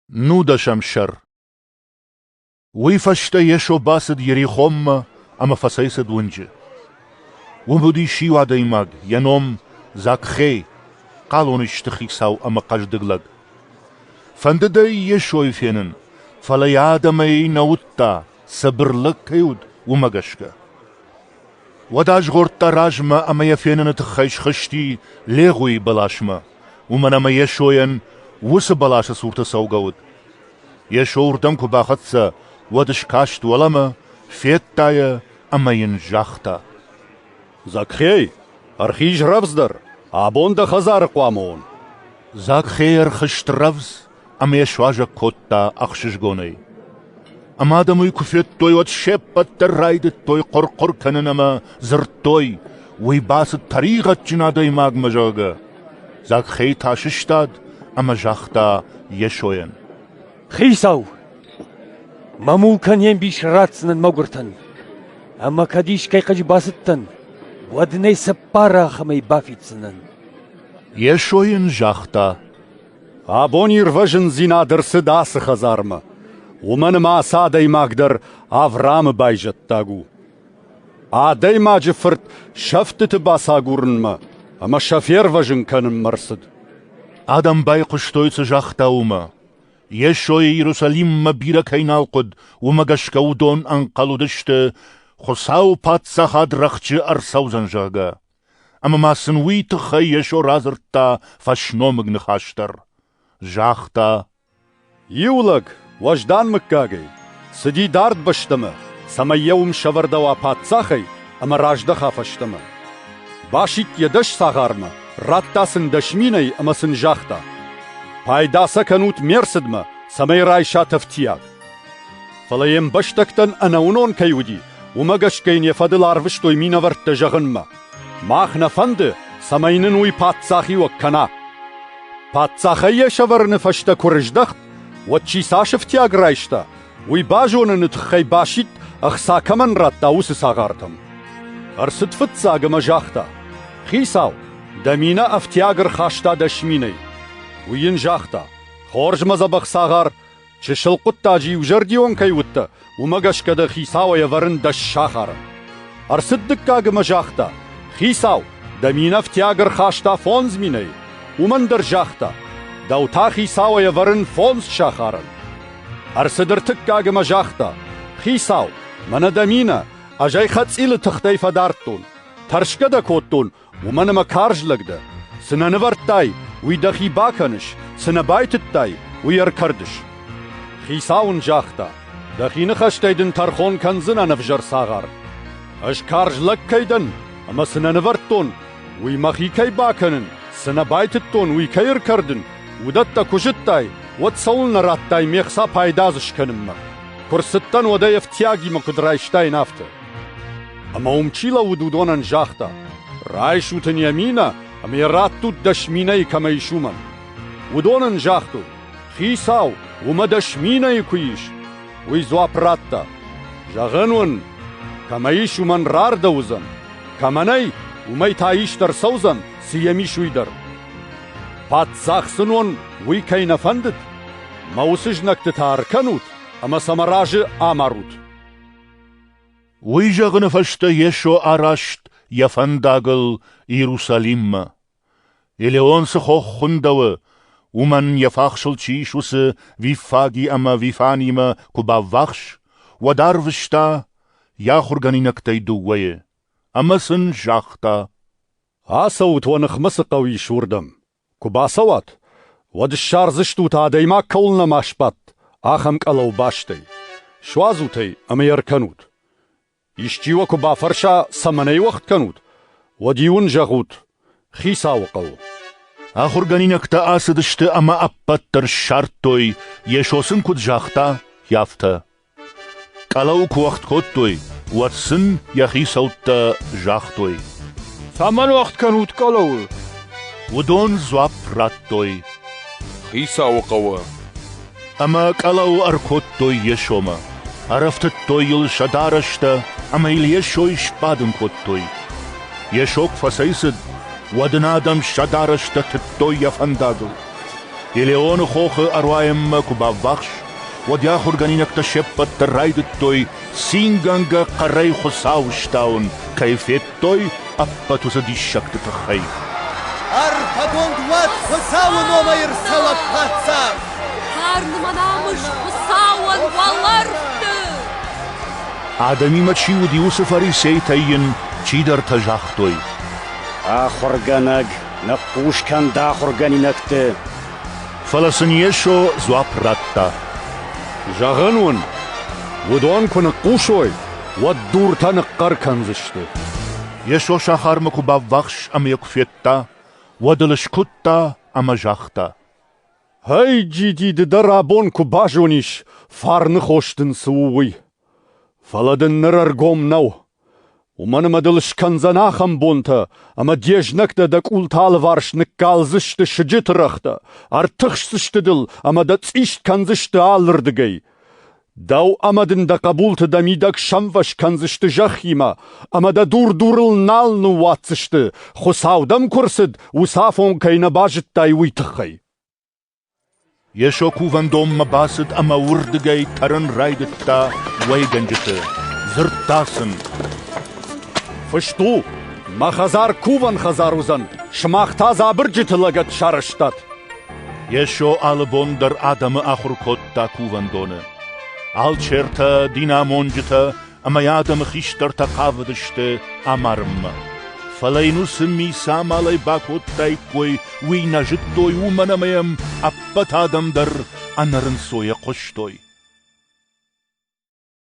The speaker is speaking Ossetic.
Нудӕсӕм сӕр Уый фӕстӕ Йесо бацыд Ерихонмӕ ӕмӕ фӕцӕйцыд уынджы. Уым уыдис иу адӕймаг, йӕ ном Закхей, хъалон исты хицау ӕмӕ хъӕздыг лӕг. Фӕндыд ӕй Йесойы фенын, фӕлӕ йӕ адӕмӕй нӕ уыдта, цыбыр лӕг кӕй уыд, уымӕ гӕсгӕ. Уӕд азгъордта размӕ ӕмӕ йӕ феныны тыххӕй схызти Легъуийы бӕласмӕ, уымӕн ӕмӕ Йесойӕн уыцы бӕласы цурты цӕугӕ уыд. Йесо уырдӕм куы бахӕццӕ, уӕд скаст уӕлӕмӕ, федта йӕ ӕмӕ йын загъта: «Закхей, ӕрхиз рӕвдздӕр, абон дӕ хӕдзары хъуамӕ уон!» Закхей ӕрхызт рӕвдз ӕмӕ йӕ суазӕг кодта ӕхсызгонӕй. Ӕмӕ адӕм уый куы федтой, уӕд се ппӕт дӕр райдыдтой хъуыр-хъуыр кӕнын ӕмӕ дзырдтой, уый бацыд тӕригъӕдджын адӕймагмӕ, зӕгъгӕ. Закхей та сыстад ӕмӕ загъта Йесойӕн. «Хицау, мӕ мулкӕн не мбис ратдзынӕн мӕгуыртӕн, ӕмӕ кӕд искӕй хъӕджы бацыдтӕн, уӕд нӕ цыппар ахӕмӕй бафиддзынӕн». Йесо йын загъта, Абон ирвӕзындзинад ӕрцыд ацы хӕдзармӕ, уымӕн ӕмӕ ацы адӕймаг дӕр Авраамы байзӕддаг у. Адӕймаджы фырт сӕфтыты бацагурынмӕ ӕмӕ сӕ фервӕзын кӕнынмӕ рцыд. Адӕм байхъуыстой, цы загъта, уымӕ. Йесойы Иерусалиммӕ бирӕ кӕй нал хъуыд, уымӕ гӕсгӕ уыдон ӕнхъӕл уыдысты, Хуыцауы Паддзахад рӕхджы ӕрцӕудзӕн, зӕгъгӕ. Ӕмӕ ма сын уый тыххӕй Йесо радзырдта фӕсномыг ныхас дӕр. Загъта: «Иу лӕг, уӕздан мыггагӕй, цыди дард бӕстӕмӕ, цӕмӕй йӕ уым сӕвӕрдӕуа паддзахӕй ӕмӕ раздӕха фӕстӕмӕ. Басидт йӕ дӕс цагъармӕ, радта сын дӕс минӕй ӕмӕ сын загъта: «Пайда сӕ кӕнут ме рцыдмӕ, цӕмӕй райсат ӕфтиаг». Фӕлӕ йе мбӕстӕгтӕн ӕнӕуынон кӕй уыди, уымӕ гӕсгӕ йын йӕ фӕдыл арвыстой минӕвӕрттӕ зӕгъынмӕ. Мах нӕ фӕнды, цӕмӕй нын уый паддзахиуӕг кӕна. Паддзахӕй йӕ сӕвӕрыны фӕстӕ куы рыздӕхт, уӕд чи цас ӕфтиаг райста, уый базоныны тыххӕй басидт ӕхца кӕмӕн радта, уыцы цагъартӕм. Ӕрцыд фыццаг ӕмӕ загъта: «Хицау, дӕ минӕ ӕфтиаг ӕрхаста дӕ сминӕй». Уый йын загъта: «Хорз мӕ дзӕбӕх цагъар, Чысыл хъуыддаджы иузӕрдион кӕй уыдтӕ, уымӕ гӕсгӕ дӕ хицауӕй ӕвӕрын дӕ сахары. Ӕрцыд дыккаг ӕмӕ загъта: «Хицау, дӕ мин ӕфтиаг ӕрхаста фондз минӕй. Уымӕн дӕр загъта: дӕу та хицауӕй ӕвӕрын фондз сахарӕн. Ӕрцыд ӕртыккаг ӕмӕ загъта: «Хицау, мӕнӕ дӕ минӕ, ӕз ӕй хӕцъилы тыхтӕй фӕдардтон. Тӕрсгӕ дӕ кодтон, Уымӕн ӕмӕ карз лӕг дӕ. Цы нӕ нывӕрдтай, уый дӕхи бакӕныс, цы нӕ байтыдтай, уый ӕркӕрдыс. Хицау ын загъта: «Дӕхи ныхӕстӕй дын тӕрхон кӕндзынӕн ӕвзӕр цагъар. Ӕз карз лӕг кӕй дӕн ӕмӕ цы нӕ нывӕрдтон, уый мӕхи кӕй бакӕнын, цы нӕ байтыдтон, уый кӕй ӕркӕрдын, уыдӕттӕ куы зыдтай, уӕд цӕуылнӕ радтай ме хца пайда дзы скӕнынмӕ? Куы рцыдтӕн, уӕд ӕй ӕфтиагимӕ куыд райстаин, афтӕ. Ӕма ум чи лӕууыд, уыдонӕн загъта, «Райсут ын йӕ минӕ, ӕмӕ йӕ раттут дӕс минӕйы кӕмӕ ис, уымӕн». Уыдон ын загътой, «Хицау, уымӕ дӕс минӕйы куы ис». Уый дзуапп радта, «Зӕгъын уын, кӕмӕ ис, уымӕн рардӕуыдзӕн, кӕмӕ нӕй, уымӕй та ист ӕрцӕудзӕн, цы йӕм ис, уый дӕр». Паддзах сын уон уый кӕй нӕ фӕндыд? Мӕ уыцы знӕгты та ӕркӕнут ӕмӕ сӕ мӕ разы амарут. Уый зӕгъыны фӕстӕ Йесо араст йӕ фӕндагыл Иерусалиммӕ. Елеон цы хох хуындӕуы, уымӕн йӕ фахсыл чи ис, уыцы Виффаги ӕмӕ Вифанимӕ куы баввахс, уӕд арвыста йӕ ахуыргӕнинӕгтӕй дыууӕйы, ӕмӕ сын загъта: «Ацӕут уӕ ныхмӕ цы хъӕу ис, уырдӕм. Куы бацӕуат, уӕд ссардзыстут, адӕймаг кӕуыл нӕма сбадт, ахӕм къӕлӕу бӕстӕй. Суадзут ӕй ӕмӕ йӕ ӕркӕнут. Исчи уӕ куы бафӕрса, цӕмӕн ӕй уӕгъд кӕнут, уӕд-иу ын зӕгъут: «Хицауы хъӕу». Ахуыргӕнинӕгтӕ ацыдысты ӕмӕ ӕппӕт дӕр ссардтой, Йесо сын куыд загъта, афтӕ. Къӕлӕу куы уӕгъд кодтой, уӕд сын йӕ хицӕуттӕ загътой. Цӕмӕн уӕгъд кӕнут къӕлӕуы? Уыдон дзуапп радтой. Хицауы хъӕуы. Ӕмӕ къӕлӕу ӕркодтой Йесомӕ. Ӕрӕфтыдтой йыл сӕ дарӕстӕ ӕмӕ йыл Йесойы сбадын кодтой. Йесо куы фӕцӕйцыд, уӕд ын адӕм сӕ дарӕстӕ тыдтой йӕ фӕндагыл. Елеоны хохы ӕруайынмӕ куы баввахс, уӕд йӕ ахуыргӕнинӕгтӕ се ппӕт дӕр райдыдтой цингӕнгӕ хъӕрӕй Хуыцау ыстауын кӕй федтой ӕппӕт уыцы диссӕгты тыххӕй. Ӕрфӕгонд уӕд Хуыцауы номӕй ӕрцӕуӕг паддзах! Фарны мӕ намыс Хуыцауӕн уӕлӕрвты! Адӕмимӕ чи уыди, уыцы фарисейтӕй йын чидӕртӕ загътой. Ахуыргӕнӕг Ныхъхъус кӕн дӕ ахуыргӕнинӕгты. Фӕлӕ сын Йесо дзуапп радта. Зӕгъын уын, уыдон куы ныхъхъусой, уӕд дуртӕ ныхъхъӕр кӕндзысты. Йесо сахармӕ куы баввахс ӕмӕ йӕ куы федта, уӕд ыл скуыдта ӕмӕ загъта: «Гьӕй, джиди, ды дӕр абон куы базонис, фарны хос дын цы у, уый! Фӕлӕ дын ныр ӕргом нӕу. Уымӕн ӕмӕ дыл скӕндзӕн ахӕм бонтӕ, ӕмӕ де знӕгтӕ дӕ къулты алыварс ныккалдзысты сыджыты рӕгътӕ, ӕртыхсдзысты дыл ӕмӕ дӕ цъист кӕндзысты алырдыгӕй. Дӕу ӕмӕ дын дӕ хъӕбулты дӕ мидӕг сӕмвӕз кӕндзысты зӕххимӕ, ӕмӕ дӕ дур-дурыл нал ныууадздзысты, Хуыцау дӕм куы рцыд, уыцы афон кӕй нӕ базыдтай, уый тыххӕй. Йесо кувӕндонмӕ бацыд ӕмӕ уырдыгӕй тӕрын райдыдта уӕйгӕнджыты. Дзырдта сын: «Фыст у: «Мӕ хӕдзар кувӕн хӕдзар уыдзӕн, сымах та дзы абырджыты лӕгӕт сарӕзтат». Йесо алы бон дӕр адӕмы ахуыр кодта кувӕндоны. Алчертӕ, динамонджытӕ ӕмӕ йӕ адӕмы хистӕртӕ хъавыдысты амарынмӕ. Фӕлӕ йын уыцы ми цы амалӕй бакодтаиккой, уый нӕ зыдтой, уымӕн ӕмӕ йӕм ӕппӕт адӕм дӕр ӕнӕрынцойӕ хъуыстой.